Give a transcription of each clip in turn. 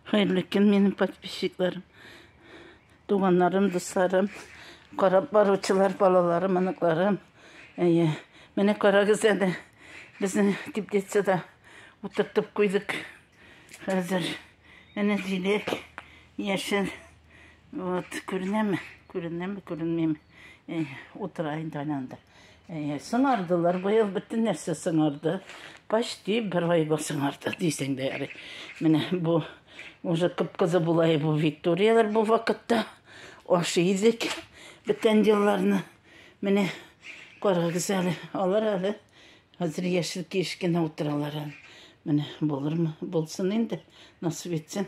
Хәерле көн минем подписчикларым. Туганнарым, дусларым, карап баручылар, балаларым, оныкларым. Әйе. Менә карагыз әле. Безнең теплицада утыртып куйдык. Хәзер әнә җиләк яшел. Вот, күренәме? Күренәме, күренмим. Утыра инде анда. Әйе, сыңардылар. Быел бөтен нәрсә сыңарды. Почти бер айга сыңарды дисең дә ярый. Менә бу уже кып-кызы булай бу Викториялар бу вакытта ашый идек бүтән елларны. Менә карагыз әле, алар әле хәзер яшел киеш кенә утыралар әле. Менә булырмы? Булсын инде, насыйп итсен.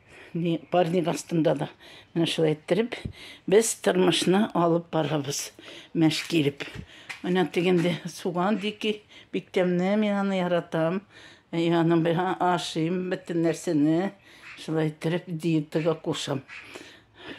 Ни парник астында да менә шулай иттереп без тормышны алып барабыз мәш килеп. Менә тегенде суган дики бик тәмле, мин аны яратам. Э, Яның белән ашыйм бөтен нәрсәне. Шулай иттереп диетага кушам.